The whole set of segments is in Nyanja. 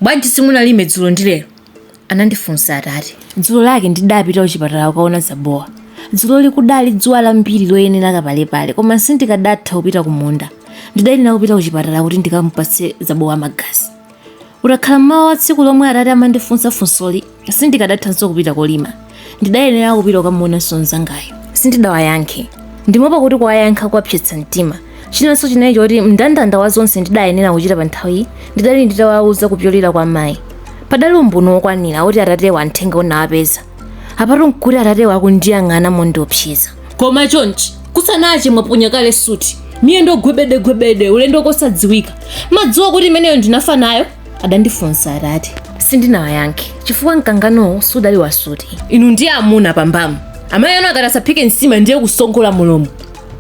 Bwanji simunalime dzulo ndi lero? anandifunsa atate. Dzulo lake ndidapita kuchipatala kukaona Zabowa. Dzuloli kudali dzuwa lambiri loyenera kapalepale, koma sindikadatha kupita kumunda. Ndidalinga kupita kuchipatala kuti ndikamupatse Zabowa magazi. Utakhala m'mawa wa tsiku lomwe atate amandifunsa funsoli, sindikadathanso kupita kolima ndidayenera kupita kukamuonanso mnzangayo sindidawayankhe ndimaopa kuti kuwayankha kuwapsetsa mtima chinanso chinali choti mndandanda wa zonse ndidayenera kuchita pa nthawiyi ndidali nditawauza kupyolera kwa mayi padali umboni wokwanira kuti atatewa uthenga unawapeza apatu nkuti atatewa akundiyang'ana mondiopseza koma chonchi kusanache mwaponya kale suti miyendo gwebedegwebede ulendo kosadziwika mmadziwa kuti imeneyo ndinafa nayo adandifunsa atate sindinawayankhe chifukwa mkanganowo sudali wa suti inu ndiye amuna pa mbamu amayi anu akati asaphike nsima ndiye kusongola mulomo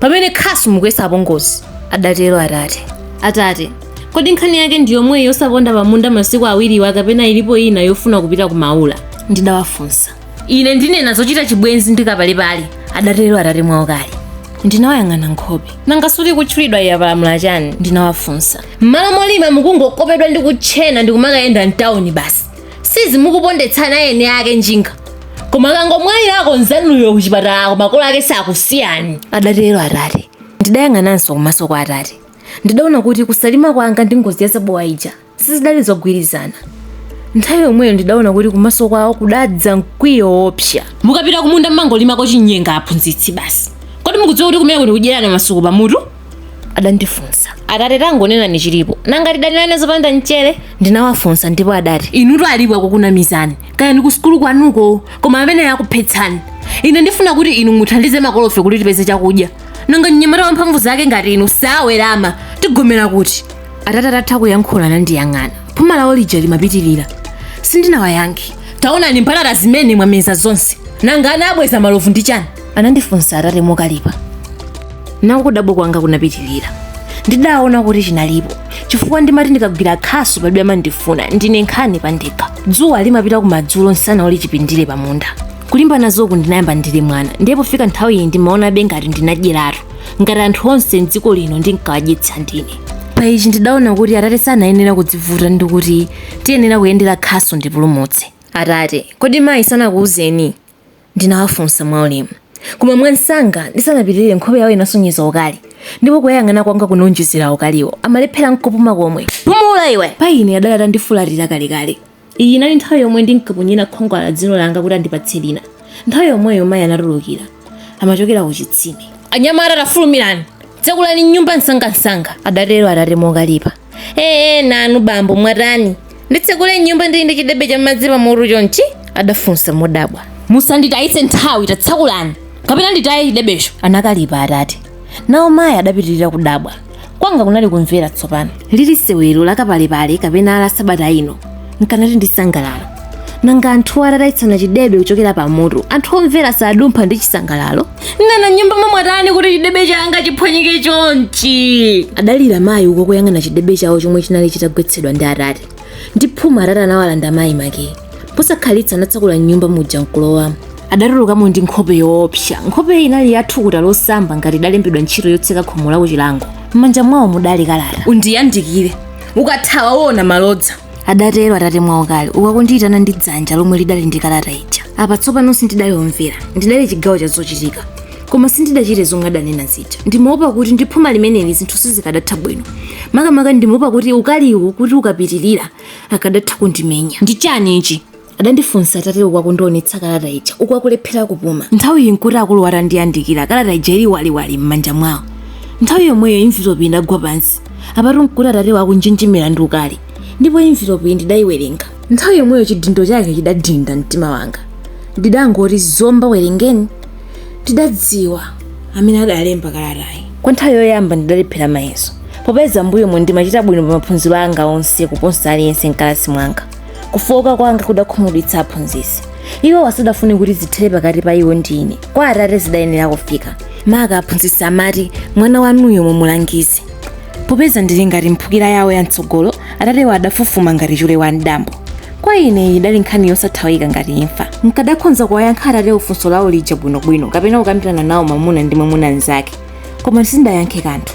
pamene khasu mukuyesa apongozi adatero atate atate kodi nkhani yake ndi yomweyi yosaponda pamunda masiku awiriwa kapena ilipo ina yofuna kupita ku maula ndidawafunsa ine ndinena zochita chibwenzi ndi kapalepale adatero atate mwaukali ndinawayang'ana nkhope nanga suti ikutchulidwayi yapalamula chani ndinawafunsa m'malo molima mukungokopedwa ndi kutchena ndi kumakayenda mtawuni basi si izi mukupondetsa ana a eni ake njinga koma akangomwalirako nzanuyo kuchipatalako makolo ake sakusiyani adatero atate ndidayang'ananso kumaso kwa atate ndidaona kuti kusalima kwanga ndi ngozi ya zabowa ija sizidali zogwirizana nthawi yomweyo ndidaona kuti kumaso kwawo kudadza mkwiyo woopsa mukapita kumunda mmangolimako chinyenga aphunzitsi basi kodi mukudziwa kuti kumeneku ndi kudyerana masuku pamutu adandifunsa atate tangonenani chilipo nanga tidanirane zopanda mchere ndinawafunsa ndipo adati inutu alipo akukunamizani kaya ndi kusukulu kwanuko koma amenewa akuphetsani ine ndifuna kuti inu muthandize makolofe kuti tipeze chakudya nanga mnyamata wa mphamvu zake ngati inu osawerama tigomera kuti atate atatha kuyankhula anandiyang'ana phuma lawo lija limapitirira sindinawayankhe taonani mbatata zimene mwameza zonse nanga ana abweza malovu ndi chani Anandifunsa atate mokalipa. Nako kudabwa kwanga kunapitirira. Ndidaona kuti chinalipo chifukwa ndimati ndikagwira khasu palibe amandifuna ndine nkhani pandekha. Dzuwa limapita kumadzulo nsana uli chipindire pa munda. Kulimba nazoku ndinayamba ndili mwana ndiye pofika nthawi iyi ndimaonabe ngati ndinadyeratu ngati anthu onse m'dziko lino ndinkawadyetsa ndine. Pa ichi ndidaona kuti atate sanayenera kudzivuta ndi kuti tiyenera kuyendera khasu ndipulumutse. Atate, kodi mayi sanakuuzeni? Ndinawafunsa mwaulemu, koma mwamsanga ndisanapitirire nkhope yawo inasonyeza ukali, ndipo kuwayang'ana kwanga kunawonjezera ukaliwo. Amalephera n'kupuma komwe. Pumula iwe! Pa ine adali atandifulatira kalekale. Iyi inali nthawi yomwe ndinkaponyera khwangwala dzino langa kuti andipatse lina. Nthawi yomweyo mayi anatulukira. Amachokera kuchitsime. Anyamata tafulumirani! Tsekulani nyumba msangamsanga! adatero atate mokalipa. ee nanu bambo mwatani nditsekule nyumba ndili ndi chidebe cha madzi pamutu chonchi adafunsa modabwa musanditayitse nthawi tatsakulani kapena nditaye chidebecho anakalipa atate nawo mayi adapitirira kudabwa kwanga kunali kumvera tsopano lili sewero lakapalepale kapena la sabata ino nkanati ndisangalale nanga anthu atataitsana chidebe kuchokera pa mutu anthu omvera sadumpha ndi chisangalalo nana nyumba mwamwatani kuti chidebe changa chiphwanyike chonchi adalira mayi uku akuyang'ana chidebe chawo chomwe chinali chitagwetsedwa ndi atate ndi phuma atate anawalanda mayi makiyi posakhalitsa anatsakula mnyumba muja nkulowamo adatulukamo ndi nkhope yoopsa nkhope inali ya thukuta losamba ngati idalembedwa ntchito yotseka khomo la kuchilango m'manja mwawo mudali kalata undiyandikire ukathawa uona malodza adatero atate mwaukali uku akundiyitana ndi dzanja lomwe lidali ndi kalata ija apa tsopano sindidali omvera ndidali chigawo cha zochitika koma sindidachite zomwe adanena zija ndimaopa kuti ndi phuma limeneli zinthu sizikadatha bwino makamaka ndimaopa kuti ukaliwu kuti ukapitirira akadatha kundimenya ndi chani ichi adandifunsa atate uku akundionetsa kalata ija uku akulephera kupuma nthawi iyi nkuti akuluwa atandiyandikira kalata ija ili waliwali m'manja mwawo nthawi yomweyo envelopi idagwa pansi apatu nkuti atatewa akunjenjemera ndi ukali ndipo envelopi iyi ndidayiwerenga nthawi yomweyo chidindo chake chidadinda mtima wanga ndidangoti zomba werengeni ndidadziwa amene adalemba kalatayi kwa nthawi yoyamba ndidalephera mayeso popeza mbuyomu ndimachita bwino pa maphunziro anga onse kuposa aliyense mkalasi mwanga kufowoka kwanga kudakhumudwitsa aphunzitsi iwowa sadafune kuti zithere pakati pa iwo ndi ine kwa atate zidayenera kufika maka aphunzitsi amati mwana wanuyo mumulangize popeza ndili ngati mphukira yawo ya mtsogolo atatewa adafufuma ngati chule wa mdambo kwa ine iyi idali nkhani yosathawika ngati imfa nkadakhonza kuwayankha atatewo funso lawo lija bwinobwino kapena kukambirana nawo mwamuna ndi mwamuna mnzake koma sindidayankhe kanthu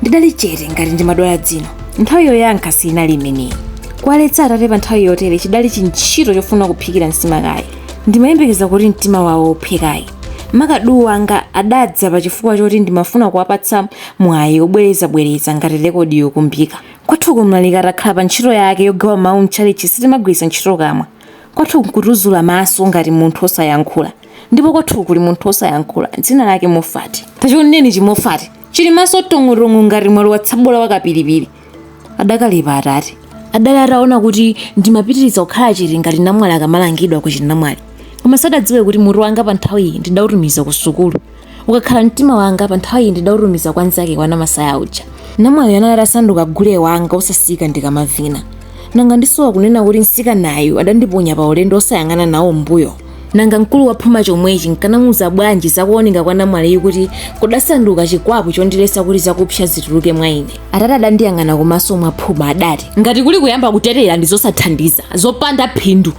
ndidali chete ngati ndimadwala dzino nthawi yoyankha siinali imeneyi kuwaletsa atate pa nthawi yotere chidali chintchito chofuna kuphikira nsima kaye ndimayembekeza kuti mtima wawo uphwe kaye maka duu wanga adadza pa chifukwa choti ndimafuna kuwapatsa mwayi obwerezabwereza ngati rekodi yokumbika kwathuko mlaliki atakhala pa ntchito yake yogawa mawu mtchalitchi sitimagwiritsa ntchito kamwa Kwathu nkutuzula maso ngati munthu osayankhula ndipo kwathu kuli munthu osayankhula dzina lake Mofati. Tachioneni chiMofati chili maso tong'o-tong'o ngati mwalowa tsabola wa kapilipili. Adakalipa Atate. Adali ataona kuti ndimapitiriza kukhala chete ngati namwali akamalangidwa ku chinamwali. Koma sadadziwe kuti mutu wanga panthawiyi ndidautumiza ku sukulu. ukakhala mtima wanga pa nthawi iyi ndidautumiza kwa nzake kwa namasaya uja namwaliyo anali atasanduka gule wanga osasiyika ndikamavina nanga ndisowa kunena kuti msikanayu adandiponya pa ulendo osayang'ana nawo mbuyo nanga mkulu wa phuma chomwechi nkanamuuza bwanji zakuoneka kwa namwaliyu kuti kudasanduka chikwapu chondiletsa kuti zakupsa zituluke mwa ine atate adandiyang'ana kumaso mwa phuma adati ngati kuli kuyamba kutetera ndi zosathandiza zopanda phindu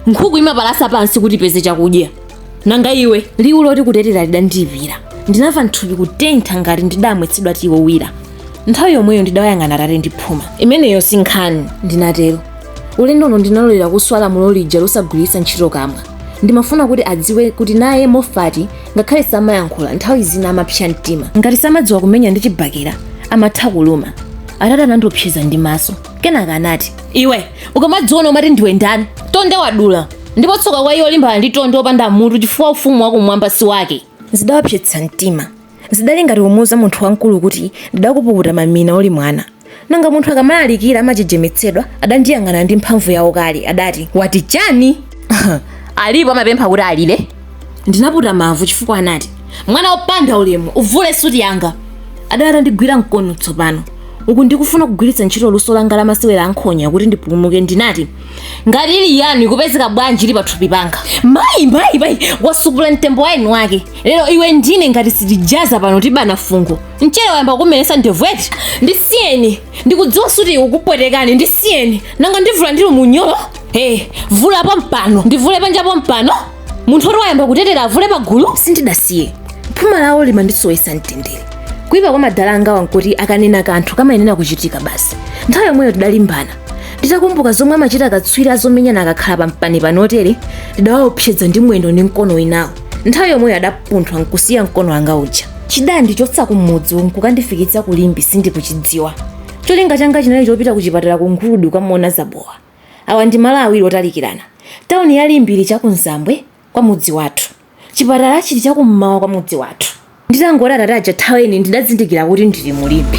nkhuku imapalasa pansi kuti ipeze chakudya nanga iwe liwu loti kutetera lidandiyipira ndinamva mthupi kutentha ngati ndidamwetsedwa tiyi wowira nthawi yomweyo ndidawayang'ana atate ndi phuma imeneyo si nkhani ndinatero ulendo uno ndinalolera kuswa lamulo lija losagwiritsa ntchito kamwa ndimafuna kuti adziwe kuti naye mofati ngakhale samayankhula nthawi zina amapsa mtima ngati samadziwa kumenya ndi chibakera amatha kuluma atate anandiopseza ndi maso kenaka anati iwe ukamadziona umati ndiwe ndani tonde wadula ndipo tsoka kwa iye olimbana ndi tonde opanda mutu chifukwa ufumu wakumwamba si wake zidawapsetsa mtima zidali ngati kumuuza munthu wamkulu kuti ndidakupukuta mamina uli mwana nanga munthu akamalalikira amajejemetsedwa adandiyang'ana ndi mphamvu yawo kale adati wati chani alipo amapempha kuti alire ndinaputa mavu chifukwa anati mwana wopanda ulemu uvule suti yanga adali atandigwira mkono tsopano uku ndikufuna kugwiritsa ntchito luso langa la masewera ankhonya kuti ndipulumuke ndinati ngati ili yanu ikupezeka bwanji ili pathupi panga mayi mayi mayi wasupula mtembo wa eni wake lero iwe ndine ngati sitijaza pano tibana fungo mchere wayamba kumeretsa ndevu eti ndisiyeni ndikudziwa suti ikupwetekani ndisiyeni nanga ndivula ndili munyolo hey, vula pompano ndivule panja pompano munthu oti wayamba kutetera avule pagulu sindidasiye phuma lawo limandisowesa mtendere kuipa kwa madala angawa nkuti akanena kanthu kamayenera kuchitika basi nthawi yomweyo tidalimbana nditakumbuka zomwe amachita akatswiri azomenyana akakhala pampani panotere ndidawaopseza ndi mwendo ndi mkono winawo nthawi yomweyo adapunthwa nkusiya mkono wanga uja chidandichotsa kumudzi nkukandifikitsa ku limbe sindikuchidziwa cholinga changa chinali chopita kuchipatala ku nguludi kukamuona zabowa awa ndi malo awiri otalikirana tawuni ya limbe ili chakunzambwe kwa mudzi wathu Chipatala chili chakum'mawa kwa mudzi wathu. Nditangoti atate aja thaweni ndidazindikira kuti ndili mu Limbe.